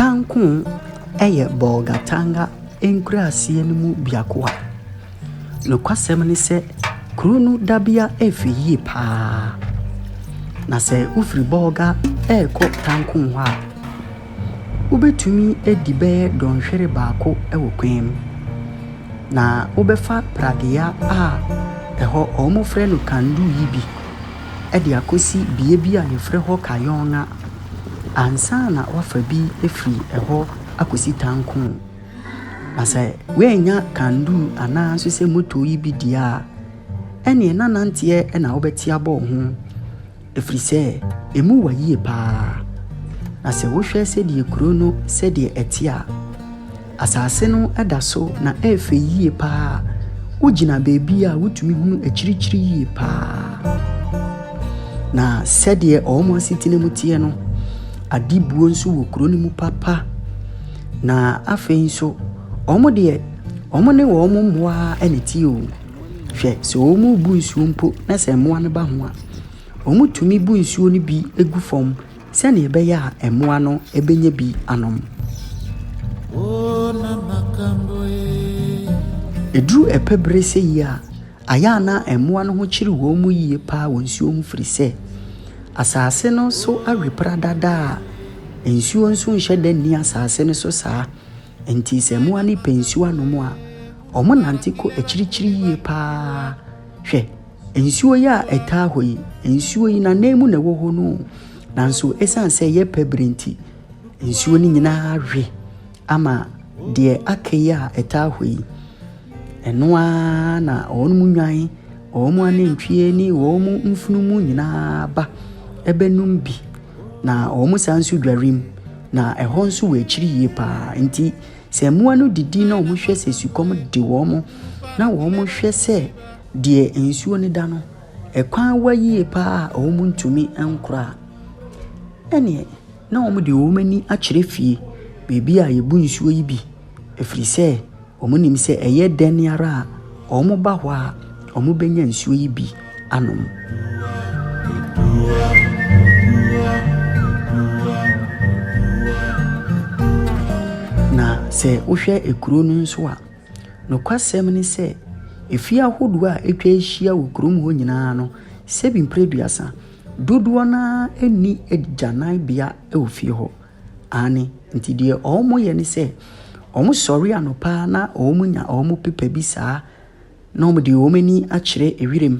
Tankun yɛ Bolgatanga nkuraaseɛ no mu biako a nokwasɛm ne sɛ kuro no dabea fɛ yie pa ara, na sɛ wofiri Bolga rekɔ Tankun hɔ a, wobɛtumi adi bɛyɛ dɔnhwere baako wɔ kwan mu. Na wobɛfa pradeɛ a ɛhɔ wɔfrɛ no kandu yi bi. de akɔsi bea bi a wɔfrɛ hɔ Kayonga ansa na wafa bi afiri ɛhɔ akɔsi Tankon. Na sɛ woannya kandoo anaa nso sɛ moto yi bi deɛ a, ɛneɛ na nanteɛ na wobɛte abɔ wo ho ɛfiri sɛ ɛmu wa yie paa. Na sɛ wohwɛ sɛdeɛ kuro no sɛdeɛ ɛte a, Asase no da so na ɛyɛ fɛ yie paa. Wogyina baabi a wotumi hunu akyirikyiri yie paa. Na sɛdeɛ wɔn asetena mu teɛ no, adebuo nso wɔ kuro no mu papa. Na afei nso, wɔn deɛ wɔn ne wɔn mmoa na ɛteɛ o. Hwɛ sɛ wɔn rebu nsuo mpo na sɛ mmoa no ba ho a, wɔtumi bu nsuo no bi gu fam. Sɛnea ɛbɛyɛ a mmoa no benya bi anom. Eduru ɛpɛ bere sɛ yi a, ayɛ a na mmoa no ho kyere wɔn mu yiye paa wɔ nsuo ho firi sɛ, asase no so awe pradada a nsuo nso nhyɛ da nni asase no so saa. Enti sɛ mmoa no repɛ nsuo anom a, wɔnante kɔ akyirikyiri yiye paa. Hwɛ! Nsuo yi a ɛtaa hɔ yi, nsuo yi n'anan mu na ɛwɔ hɔ no o. Nanso ɛsiane sɛ ɛyɛ pɛ bere nti, nsuo no nyinaa awe ama deɛ aka yi a ɛtaa hɔ yi. Ɛno ara na wɔn mu nnwan, wɔn mu anantwie ne wɔn mu mfunumu nyinaa ba bɛnom bi. Na wɔn san nso dware mu, na ɛhɔ nso wɔ akyiri yie pa ara. Enti sɛ mmoa no didi na wɔhwɛ sɛ sukɔm de wɔn na wɔhwɛ sɛ . Deɛ nsuo no da no, ɛkwan wa yie pa ara a wɔntumi nkora a, ɛnneɛ na wɔde wɔn ani akyerɛ fie, baabi a wɔbu nsuo yi bi, ɛfiri sɛ wɔnim sɛ ɛyɛ dɛn ara a, wɔba hɔ a, wɔbɛnya nsuo yi bi anom. Na sɛ wohwɛ kuro no nso a, Nokwasɛm ne sɛ, afie ahodoɔ a atwa ahyia wɔ kurom hɔ nyinaa no, sɛ bi mprɛ aduasa, dodoɔ no ara nni agyananbea wɔ fie hɔ. Aane, nti deɛ wɔyɛ ne sɛ, wɔsɔre anɔpa na wɔnya wɔn pepa bi saa na wɔde wɔn ani akyerɛ wiram.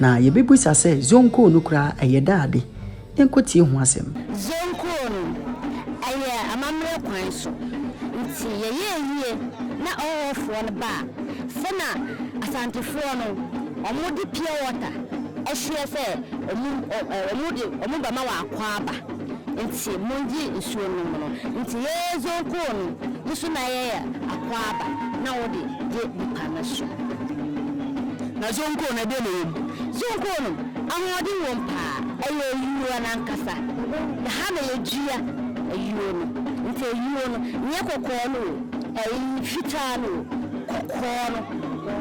Na yɛbɛbisa sɛ Zonkoo no koraa ɛyɛ dɛ ade? Yɛnkɔ tie ho asɛm. Zonkoo no ɛyɛ amammerɛ kwan so nti yɛyɛɛ yie na ɔhɔhoɔfoɔ no baa sɛ na Asantefoɔ no ɔmo de pure water ɛhyeɛ sɛ ɔmo ɔmo de ɔmo bɛma wɔ Akwaaba nti mongye nsuo nom no nti yɛɛ Zonkoo no nso na yɛyɛ Akwaaba na wode gye nipa no so. Na Zonko no, ɛdeɛn na ɛwɔ mu? Zonko no, ahoɔden wɔ mu paa. Ɛyɛ ayuo no ankasa. Na ha na yɛdua ayuo no. Nti ayuo no, nyɛ kɔkɔɔ no o, ɛyi, fitaa no o, kɔkɔɔ no,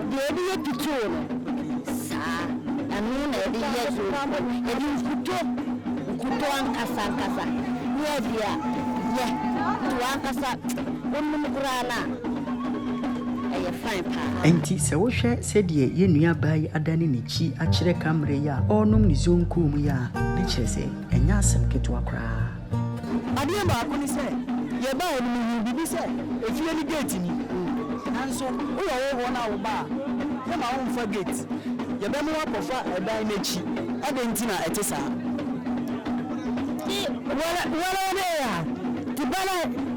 deɛ yɛde yɛ pitoo no, saa, ɛno na yɛde yɛ zonko. Yɛde nkuto, nkuto ankasa ankasa, ne yɛde ayɛ. Nti wo ankasa, wonom koraa no a. ɛyɛ fine paa. Ɛnti sɛ wo hwɛ sɛdeɛ yɛn nua baa yi adane n'akyi akyerɛ ka mmerɛ yi a ɔɔnom ne zonkoo mu yi a, ne kyerɛ sɛ ɛnyɛ asɛm ketewa koraa. Adeɛ baako ne sɛ, yɛ baa no me huu biribi sɛ efie no gate ni, nanso wo yɛ wo hɔ na wo ba a, yɛ ma wo nfa gate, yɛ bɛ mo wo akɔ fa ɛdan n'akyi, adɛn nti na ɛte saa? Ti wɛrɛ wɛrɛ de a, ti bɛlɛ.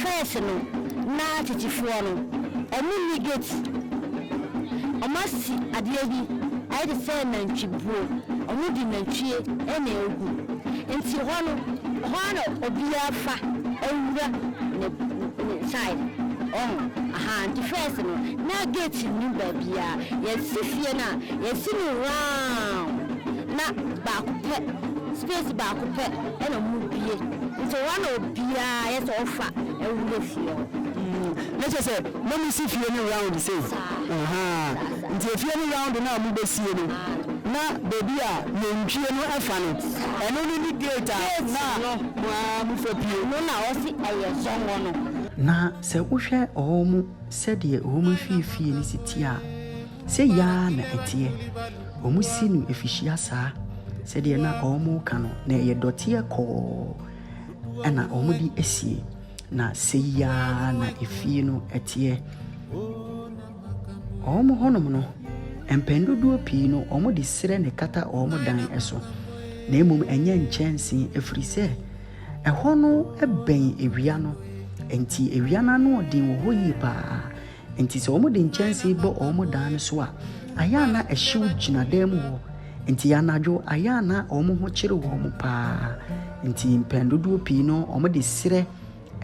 First no na titifoɔ no ɔmo nni gate ɔmo asi adeɛ bi ayɛ te sɛ nantwi buo ɔmo de nantwie na egu nti hɔ no hɔ ara na obiara fa wura ne ne side ɔho ahaa nti first no na gate nni baabiaa yɛsi fie no a yɛsi no round na baako pɛ space baako pɛ. na mu bue nti hɔ na obiaa yɛ sɛ ɔfa wura fie hɔ. Mm na kyerɛ sɛ na mo si fie no round sei? Saa. Ahaa nti efie no round no a mo bɛ sie no na baabi a nantwie no fa no ɛno no ne gate a na mo aa mo fa pue. Ɛno na ɔse ɛyɛ zɔngɔ no. Na sɛ wohwɛ ɔɔ mo sɛdeɛ ɔɔ mo mfie fie no si teɛ a. Sei ara na ɛteɛ, wɔsi no afihyia saa, sɛdeɛ na wɔreka no, na ɛyɛ dɔteɛ kɔɔ na wɔde asie, na sei ara na efie no teɛ. Wɔn hɔnom no, mpɛn dodoɔ pii no, wɔde serɛ na ɛkata wɔn dan so, na mmom ɛnyɛ nkyɛnse, ɛfiri sɛ ɛhɔ no bɛn awia no, enti awia no anoɔden wɔ hɔ yie pa ara. Enti sɛ wɔde nkyɛnsee bɔ wɔn dan no so a, ayɛ a na ɛhyew gyina dan mu hɔ. Enti anadwo, ayɛ a na wɔn ho kyere wɔn paa. Enti mpɛn dodoɔ pii no, wɔde serɛ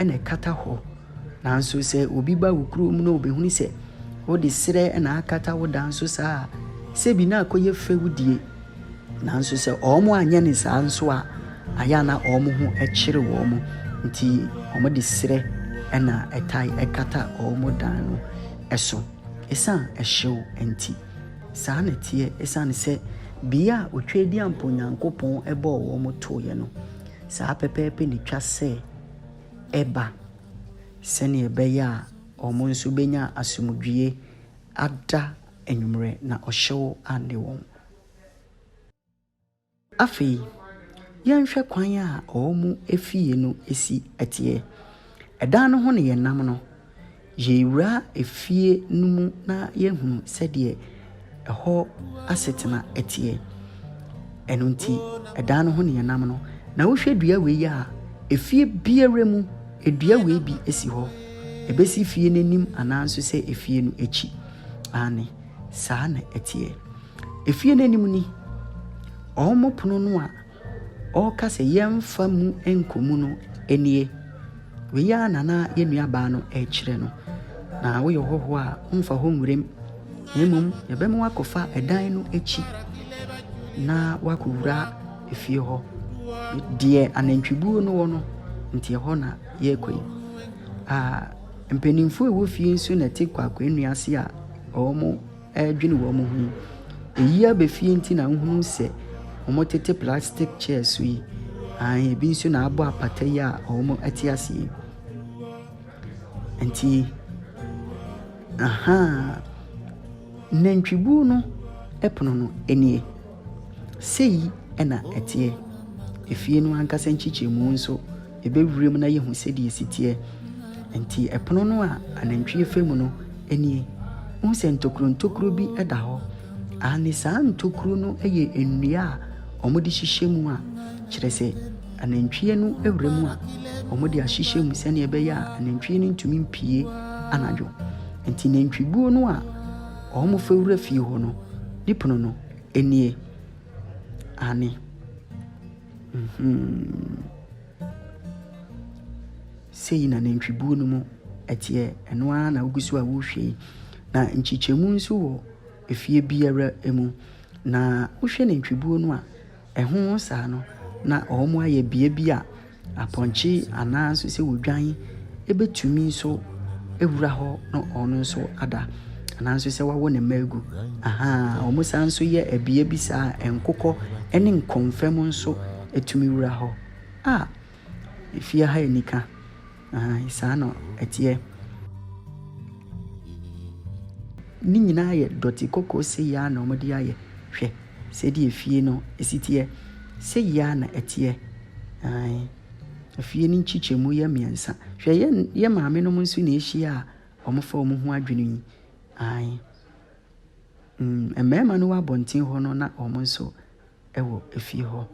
na ɛkata hɔ. Nanso sɛ obi ba wo kurom na ɔbɛhunu sɛ wode serɛ na akata wo dan so saa a, sɛ bi na akɔyɛ fɛ wo die. Nanso sɛ wɔanyɛ no saa nso a, ayɛ a na wɔn ho kyere wɔn, nti wɔde serɛ na ɛtae kata wɔn dan no so esiane hyew nti. Saa na ɛteɛ esiane sɛ bea a Otwadiampo Nyankopɔn bɔɔ wɔn toeɛ no, saa pɛpɛɛpɛ na etwa sɛ ɛba, sɛnea ɛbɛyɛ a wɔn nso benya asomdwoe ada Anwummerɛ, na ɔhyew anne wɔn. Afei, yɛnhwɛ kwan a wɔn efie no si teɛ. Ɛdan no ho na yɛnam no, yɛrewura efie no mu na yɛahunu sɛdeɛ ɛhɔ asetena teɛ. Ɛno nti, ɛdan no ho na yɛnam no, na wohwɛ dua wei a, efie biara mu, dua wei bi si hɔ. Ɛbɛsi fie no anim anaa nso sɛ efie no akyi. Aane, saa na ɛteɛ. Efie no anim ni, wɔn pono no a wɔka sɛ yɛmfa mu nkɔ mu no nie. Wei ara na na yɛn nuabaa no rekyerɛ no. Na woyɛ ɔhɔhoɔ a, womfa hɔ nwuram, na mmom yɛbɛma wakɔfa ɛdan no akyi na wakɔwura efie hɔ. Deɛ anantwibuo no wɔ no, nti ɛhɔ na yɛrekɔ yi. Ah. Mpanyimfo a ɛwɔ fie nso na ɛte kwaakwaannua ase a wɔredwene wɔn ho yi. Eyi aba fie nti na wohunu sɛ wɔtete plastic chairs so yi. Ae, ebi nso na abɔ apata yi a wɔte ase yi. Nti, ahaa, nantwibuo no pono no nie. Sei na ɛteɛ. Efie no ankasa nkyekyɛmu nso. Yɛbɛ wuram na yɛhu sɛdeɛ ɛsi teɛ. Enti ɛpono no a anantwie fa mu no nie. Wohu sɛ ntokuro ntokuro bi da hɔ? Aane, saa ntokuro no yɛ nnua a wɔde hyehyɛ mu a kyerɛ sɛ anantwie no wura mu a wɔde ahyehyɛ mu sɛdeɛ ɛbɛyɛ a anantwie no ntumi mpue anadwo. Enti nantwibuo no a wɔfa wura fie hɔ no, ne pono no nie. Aane. Sei na nantwibuo no mu teɛ, ɛno ara na wogu so a worehwɛ yi. Na nkyekyɛmu nso wɔ efie biara mu. Na wohwɛ nantwibuo no a, ɛho saa no, na wɔayɛ beae bi a apɔnkye anaa nso sɛ wɔdwan. Ebetumi nso awura hɔ na ɔno nso ada. Ananso sɛ wawo ne mma agu. Ahaa, wɔn san nso yɛ ɛbea bi saa a nkokɔ ne nkɔmfɛm nso tumi wura hɔ. A, efie ha anika. Ahaa, saa na ɛteɛ. Ne nyinaa yɛ dɔte kɔkɔɔ sei ara na wɔde ayɛ. Hwɛ sɛdeɛ efie no si teɛ. Sei ara na ɛteɛ. Ae. Afie no nkyekyɛmu yɛ mmiɛnsa. Hwɛ yɛ yɛ maame nom nso na ahyia a wɔfa wɔn ho adwene yi. Ae. Mm, mmarima no wɔ abɔnten hɔ no na wɔn nso wɔ efie hɔ.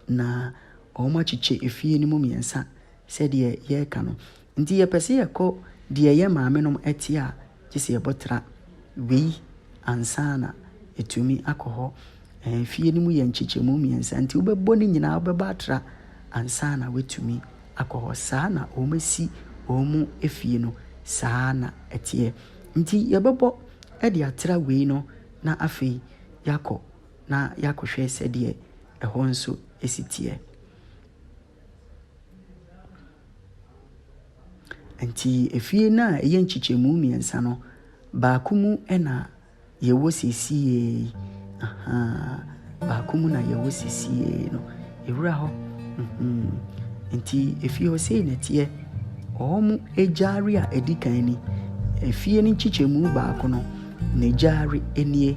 Na wɔakyekyɛ efie no mu mmiɛnsa sɛdeɛ yɛreka no. Nti yɛpɛ sɛ yɛkɔ deɛ yɛ maame nom te a, gye sɛ yɛbɔ tra wei ansa na yɛatumi akɔ hɔ. Ɛɛ, fie no mu yɛ nkyekyɛmu mmiɛnsa, nti wobɛbɔ ne nyinaa, wobɛbɔ atra ansa na woatumi akɔ hɔ. Saa na wɔasi wɔn fie no, saa na ɛteɛ. Nti yɛbɛbɔ de atra wei no na afei yɛakɔ na yɛakɔhwɛ sɛdeɛ ɛhɔ nso si teɛ. Enti efie no a ɛyɛ nkyekyɛmu mmiɛnsa no, baako mu na yɛwɔ seesei yi. Ahaa, baako mu na yɛwɔ seesei yi no. Yɛwura hɔ. Enti efie hɔ sei na ɛteɛ. Wɔn agyari a ɛdi kan ni. Efie no nkyekyɛmu baako no, n'agyari nie.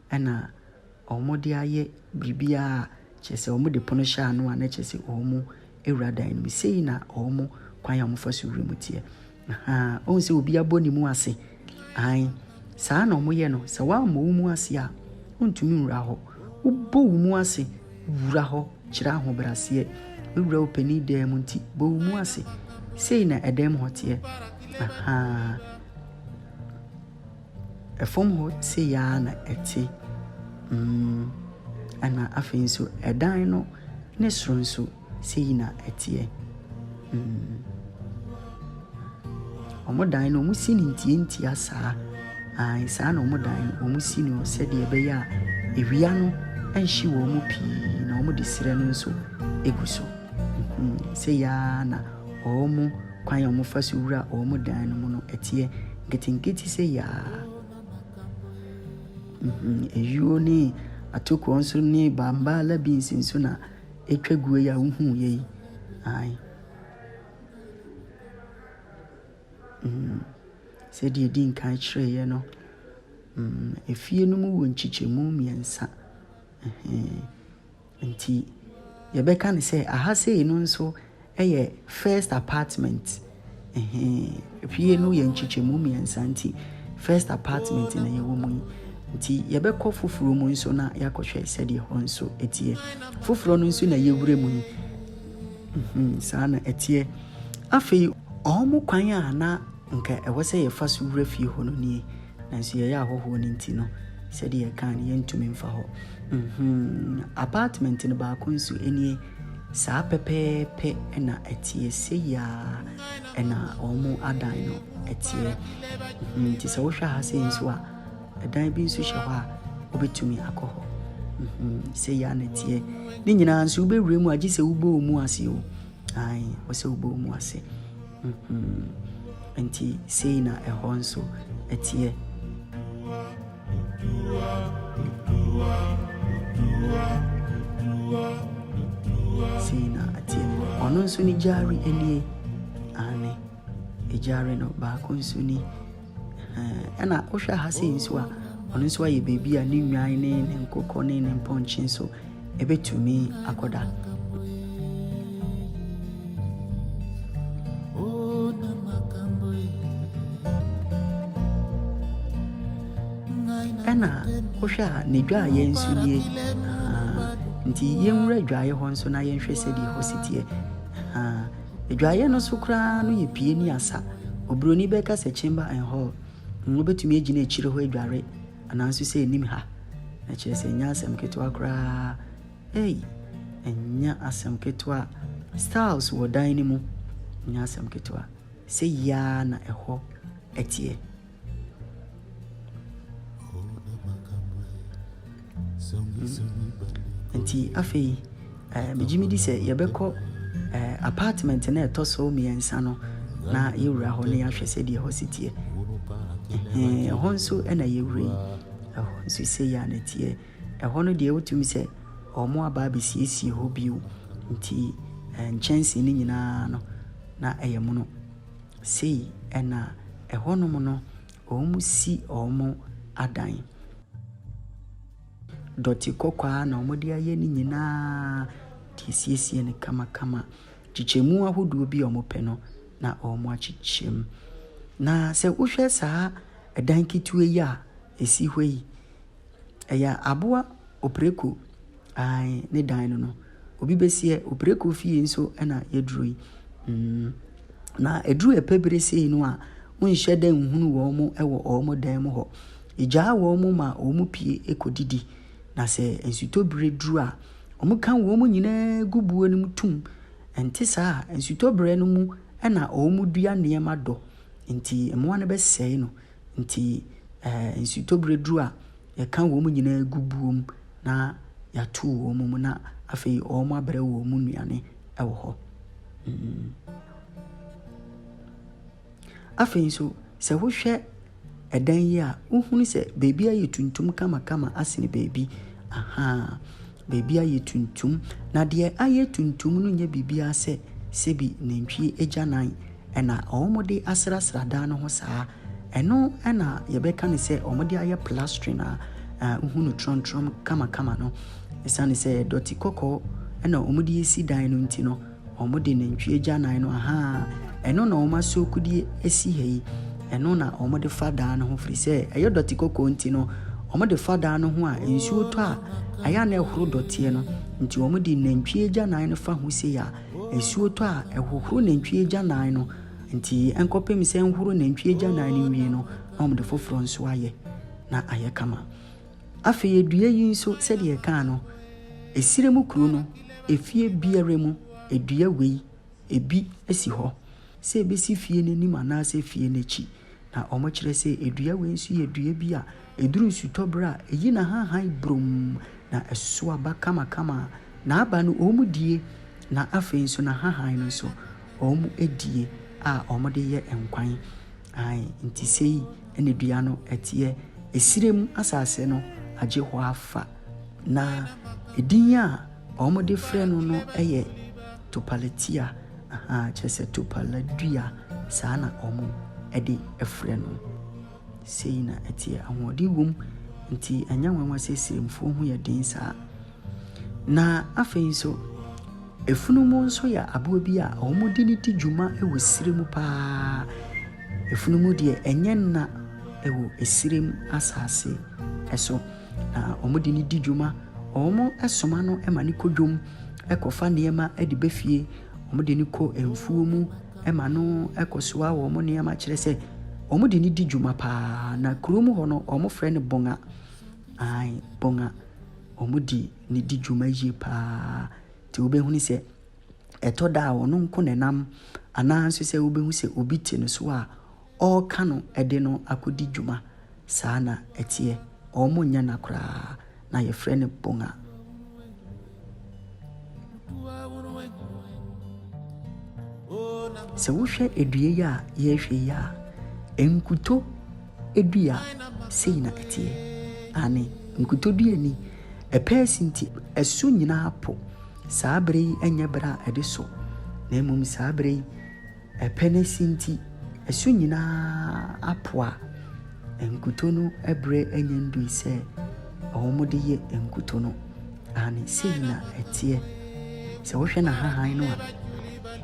Ɛna wɔde ayɛ biribiara, kyerɛ sɛ wɔde pono hyɛ ano a, na kyerɛ sɛ wɔawura dan no mu. Sei na wɔn kwan a wɔfa so wura mu teɛ. Ahaa, wohu sɛ obi abɔ ne mu ase? Aane, saa na wɔyɛ no. Sɛ woammɔ wo mu ase a, wontumi nwura hɔ. Wobɔ wo mu ase wura hɔ kyerɛ ahobrɛaseɛ. Wowura wo panin dan mu nti, bɔ wo mu ase. Sei na ɛdan mu hɔ teɛ. Ahaa. Fam hɔ sei ara na ɛte, mm, ɛna afei nso ɛdan no ne soro nso sei na ɛteɛ, mm. Wɔn dan no wɔn si no ntiantia saa, ae saa na wɔn dan no wɔn si no sɛdeɛ ɛbɛyɛ a ewia no ɛnhye wɔn mu pii na wɔde serɛ no nso egu so, mm, sei ara na wɔn. Kwan a wɔfa so wura wɔn dan no mu no, ɛteɛ nketenkete sei ara. Ayuo ne atokoɔ nso ne bambaala beans nso na ɛtwa guo yi a wohuiɛ yi. Ae. Mm. Sɛdeɛ ɛdi nkan kyerɛeɛ no, mm, efie no mu wɔ nkyekyɛmu mmiɛnsa. Ɛhɛn. Nti yɛbɛka no sɛ aha sei no nso yɛ first apartment. Ɛhee, fie no yɛ nkyekyɛmu mmiɛnsa nti first apartment na yɛwɔ mu yi. Nti yɛbɛkɔ foforɔ mu nso na yɛakɔhwɛ sɛdeɛ hɔ nso ɛteɛ. Foforɔ no nso na yɛwura mu yi. Saa na ɛteɛ. Afei wɔn kwan a na nka ɛwɔ sɛ yɛfa so wura fie hɔ no nie. Nanso yɛyɛ ahɔhoɔ no nti no, sɛdeɛ yɛkaa no, yɛntumi mfa hɔ. Mhmm, apartment no baako nso nie. Saa pɛpɛɛpɛ na ɛteɛ, sei ara na wɔadan no teɛ. Mhmm, nti sɛ wohwɛ ha sei nso a, ɛdan bi nso hyɛ hɔ a, wobɛtumi akɔ hɔ. Mhmm, sei ara na ɛteɛ. Ne nyinaa nso wobɛwura mu a, gye sɛ wobɔ wo mu ase o. Ae, wɔ sɛ wobɔ wo mu ase. Enti sei na ɛhɔ nso teɛ. Sei na ɛteɛ. Ɔno nso ne Gyari nie. Aane, Gyari no baako nso ni. Ɛna wohwɛ ha sɛ nso a ɔno nso ayɛ baabi a ne nnwan ne ne nkokɔ ne ne mpɔnkye nso ɛbɛtumi akɔda ɛna wohwɛ a ne dwaayɛ nso nie nti yɛnwura dwaayɛ hɔ nso na yɛnhwɛ sɛdeɛ hɔ si teɛ Adwaeɛ no so koraa no yɛ pie ne asa. Oburoni bɛka sɛ chamber and hall. Wobɛtumi agyina akyire hɔ adware anaa nso sɛ anim ha. Na kyerɛ sɛ ɛnyɛ asɛm ketewa koraa. Ei, ɛnyɛ asɛm ketewa. Styles wɔ dan no mu. Ɛnyɛ asɛm ketewa. Sɛ yiaa na ɛhɔ teɛ. Nti afei eh, megye medi sɛ yɛbɛkɔ eh, apartment na ɛtɔ so mmiɛnsa no na yɛwura hɔ na yɛahwɛ sɛdeɛ ɛhɔ si teɛ ɛhɔ nso na yɛwura yi ɛhɔ nso sɛ yɛ a na teɛ ɛhɔ no deɛ wotumi sɛ ɔmo aba abɛsiesie hɔ bio nti eh, nkyɛnsee no nyinaa no na ɛyɛ mono Sei na ɛhɔnom no wɔsi wɔn adan. Dɔte kɔkɔaa na wɔde ayɛ ne nyinaa de asiesie no kamakama. Nkyekyɛmu ahodoɔ bi a wɔpɛ no na wɔakyekyɛ mu. Na sɛ wohwɛ saa dan ketewa yi a ɛsi hɔ yi, Ɛyɛ aboa opreko ae ne dan no no obi bɛsiɛ opreko fie nso ɛna yɛduro yi mm na ɛduru ɛpɛ bere sei no a wonhyɛ dɛ nhunu wɔn mo ɛwɔ wɔn mo dan mu hɔ ɛgyaa wɔn mo ma wɔn mo pie ɛkɔ didi na sɛ nsutɔ bere duru a wɔn ka wɔn mo nyinaa gu buo no mu tum ɛnte saa a nsutɔ bere no mu ɛna wɔn mo dua nneɛma dɔ nti mmoa no bɛsɛe no. Enti nsutɔberɛ duru a, yɛka wɔn nyinaa gu buo mu na yɛato wɔn mu na afei wɔabrɛ wɔn nnuane wɔ hɔ. Afei nso, sɛ wohwɛ ɛdan yi a, wohunu sɛ baabi ayɛ tuntum kamakama asene baabi. Aha. Baabi ayɛ tuntum, na deɛ ayɛ tuntum no nyɛ biribiara sɛ sɛbi nantwie agyanan na wɔde asrasra dan no ho saa. Ɛno na yɛbɛka no sɛ wɔde ayɛ plastering a wohu no trɔmtrɔm kamakama no. Ɛsiane sɛ dɔte kɔkɔɔ na wɔde asi dan no nti no, Wɔde nantwie agyanan no, ahaa, ɛno na wɔasuakudeɛ asi ha yi, ɛno na wɔde fa dan no ho, firi sɛ ɛyɛ dɔte kɔkɔɔ nti no, wɔde fa dan no ho a, nsuo tɔ a, ayɛ a na ɛhoro dɔteɛ no, nti wɔde nantwie agyanan no fa ho sei a, nsuo tɔ a, ɛhohoro nantwie agyanan no, nti ɛnkɔpem sɛ ɛnhoro nantwie agyanan no wie no, na wɔde foforɔ nso ayɛ, na ayɛ kama. Afei adua yi nso, sɛdeɛ yɛkaa no, Esire mu kuro no, efie biara mu, dua wei, ebi si hɔ sɛ ɛbɛsi fie no anim anaasɛ fie no akyi. Na wɔkyerɛ sɛ dua wei nso yɛ dua bi a, ɛduru nsutɔberɛ a, ɛyi n'ahahan burum, na ɛso aba kamakama. N'aba no, wɔdie, na afei nso n'ahahan no nso, wɔdie a wɔde yɛ nkwan. Aane, nti sei na dua no teɛ, esire mu asase no agye hɔ afa, na edin a wɔde frɛ no no yɛ Topalatia, ahaa, kyerɛ sɛ topala dua, saa na wɔde frɛ no. Sei na ɛteɛ, ahoɔden wom, nti ɛnyɛ nwanwa sɛ Siremfoɔ ho yɛ den saa. Na afei nso, afunumu nso yɛ aboa bi a wɔde no di dwuma wɔ serɛ mu paa. Afunumu deɛ ɛnyɛ nna wɔ serɛ mu asase so, na wɔde no di dwuma. Wɔsoma no ma no kɔ dwom kɔfa nneɛma de ba fie. Wɔde no kɔ mfuo mu ma no kɔsoa wɔn nneɛma kyerɛ sɛ wɔde no di dwuma paa. Na kurom hɔ no, wɔfrɛ no bɔnga. Ae, bɔnga. wɔde no di dwuma yie pa ara. Nti wobɛhunu sɛ, ɛtɔ da a, ɔno nko na ɛnam anaa nso sɛ wobɛhu sɛ obi te no so a, ɔreka no de no akɔdi dwuma. Saa na ɛteɛ. Wɔnyɛ na koraa. Na yɛfrɛ no bonga. Sɛ wohwɛ dua yi a yɛrehwɛ yi a, nkuto dua sei na ɛteɛ, aane, nkutodua ni, ɛpɛɛ si nti ɛso nyina ara po, saa berɛ yi nyɛ berɛ a ɛde sɔ, na mmom saa berɛ yi ɛpɛ no si nti ɛso nyina ara apo a nkuto no berɛ anya ndui sɛ wɔde yɛ nkuto no. Aane, sei na ɛteɛ. Sɛ wohwɛ n'ahahan no a,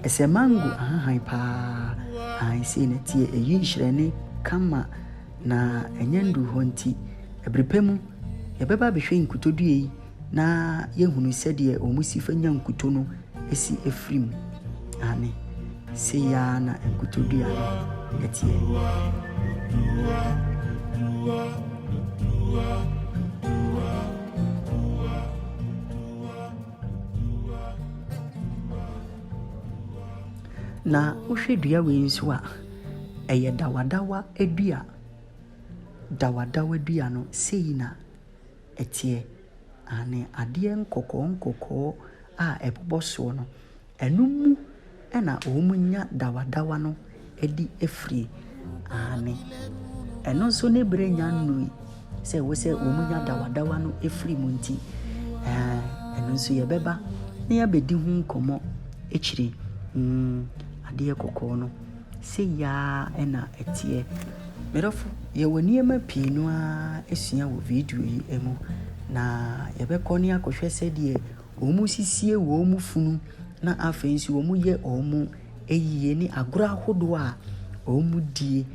ɛsɛ mango ahahan pa ara. Aane, sei na ɛteɛ. Ɛyi nhyerɛnne kama, na ɛnyɛ nnuru hɔ nti. Ɛberɛ pa mu, yɛbɛba abɛhwɛ nkutodua yi na yɛahunu sɛdeɛ wɔsi fa nya nkuto no si firi mu. Aane. Sei ara na nkotodwe ano teɛ. Na wohwɛ dua wei nso a, ɛyɛ dawadawa dua. Dawadawa dua no, sei na ɛteɛ. Aane, adeɛ nkɔkɔɔ nkɔkɔɔ a ɛbobɔ soɔ no. Ɛno mu na wɔnya dawadawa no adi firie. Aane, ɛno nso ne berɛ nnya nnui sɛ wo sɛ wɔnya dawadawa no firi mu nti. Ɛɛ, ɛno nso yɛbɛba na yɛabɛdi ho nkɔmmɔ akyire. Mm, adeɛ kɔkɔɔ no, sei ara na ɛteɛ. Medɔfo, yɛwɔ nneɛma pii no ara asua wɔ video yi mu, na yɛbɛkɔ ne akɔhwɛ sɛdeɛ wɔsisie wɔn funu na afei nso wɔyɛ wɔn ayie ne agorɔ ahodoɔ a wɔdie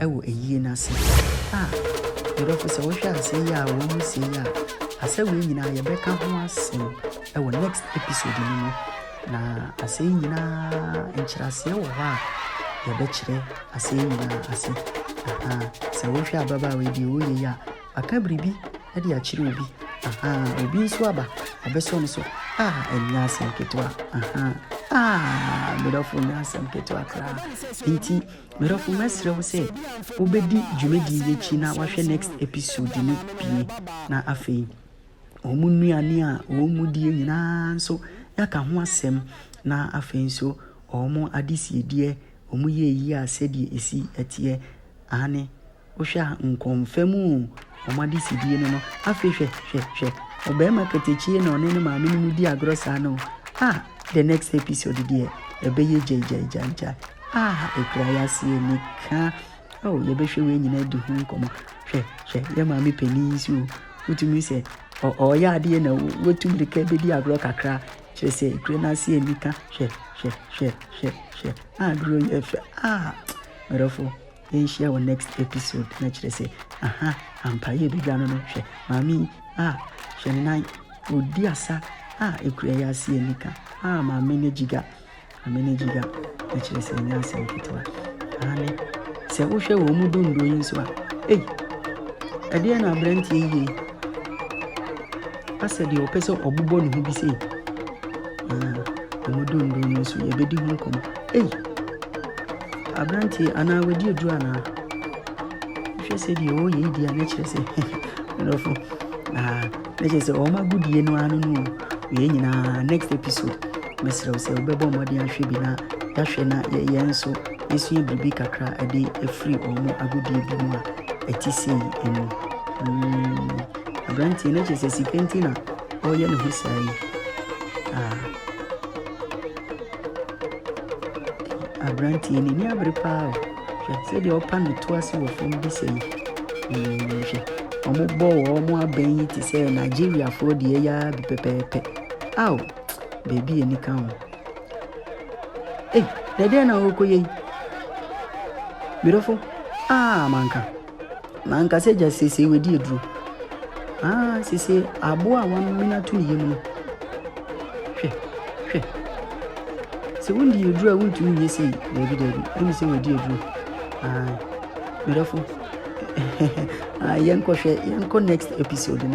wɔ ayie no ase a, me dɔfo sɛ wohwɛ a asɛm yi a wɔresie yi a, asɛ wei nyinaa yɛbɛka ho asɛm wɔ next episode no mu. Na asɛm yi nyinaa nkyerɛaseɛ wɔ hɔ a yɛbɛkyerɛ asɛm yi nyinaa ase. Aha, sɛ wohwɛ ababaawa yi deɛ ɔreyɛ yi a, Aka biribi de akyerɛ obi, ahaa, obi nso aba abɛsɔ no so, ah, ɛnyɛ asɛm ketewa, ahaa, ah, medɔfo nyɛ asɛm ketewa koraa. Enti, medɔfo, mɛsrɛ wo sɛ wobɛdi dwumadie yi akyi na wahwɛ next episode no pie, na afei wɔn nnuane a wɔn die nyinaa nso yɛaka ho asɛm, na afei nso wɔn adesiedeɛ, wɔn yɛ yie a sɛdeɛ ɛsi ɛteɛ, aane. Wohwɛ a nkɔmfa mu o, wɔn adesidie no no. Afei hwɛ, hwɛ, hwɛ, ɔbarima katakyiie na ɔne ne maame no mu di agorɔ saa no o. Ah, the next episode deɛ, ɛbɛyɛ gyaigyaigyaigyae. Ah, ɛkura yɛase anika. Oh, yɛbɛhwɛ wei nyinaa adi ho nkɔmmɔ. Hwɛ, hwɛ, yɛ maame panin yi nso o. Wotumi sɛ, ɔyɛ adeɛ na watu mmirika bɛdi agorɔ kakra. Kyerɛ sɛ, ɛkura n'ase anika. Hwɛ, hwɛ, hwɛ, hwɛ, hwɛ. Ah, duro yɛ fɛ. Ah, mmerɛfoɔ. Yɛnhyia wɔ next episode na kyerɛ sɛ aha ampa yɛbɛdwa no no hwɛ maame yi ah hwɛ ne nan ɔdi asa ah ɛkura yi ase anika ah maame ne gyiga maame ne gyiga na kyerɛ sɛ ɛnyɛ asɛm ketewa maame sɛ wohwɛ wɔn mu dondo yi nso a ei ɛdeɛ na aberanteɛ yie asɛ deɛ ɔpɛ sɛ ɔbobɔ ne ho bi sei ah wɔn dondo no nso yɛbɛdi ho nkɔmmɔ Ei! Aberanteɛ yi, anaa wadi aduro anaa? Wohwɛ sɛdeɛ ɔreyɛ yi deɛ a, na kyerɛ sɛ Borɔfo, ah, na kyerɛ sɛ wɔn agodie no ara no no wei nyinaa. Next episode, mɛsrɛ wo sɛ wobɛbɔ mmɔden ahwɛ bi na yɛahwɛ na yɛ- yɛn nso yɛsua biribi kakra a ɛde afiri wɔn agodie bi mu a ɛte sei mu. Mm, aberanteɛ, na kyerɛ sɛ sika nti na ɔreyɛ ne ho saa yi. Ah. Aberanteɛ yi n'ani abere paa o. Hwɛ sɛdeɛ ɔrepa ne to ase wɔ fam bi sɛɛ. Eeii hwɛ. Wɔbɔ wɔn abɛn yi te sɛ Nigeriafoɔ deɛ yi ara bi pɛpɛɛpɛ. Ao! Baabi yɛ anika o. Ei, deɛ ɛdeɛn na worekɔyɛ yi? Me dɔfo, aa manka. Na anka sɛ gya seesei wadi aduro. Ah, seesei aboa a wɔamene ato ne yam no. Hwɛ, hwɛ. Sɛ wondi aduro a wontumi nyɛ sei, daabi daabi, ɛne sɛ wadi aduro. Ah, medɔfo, ah, yɛnkɔhwɛ, yɛnkɔ next episode na.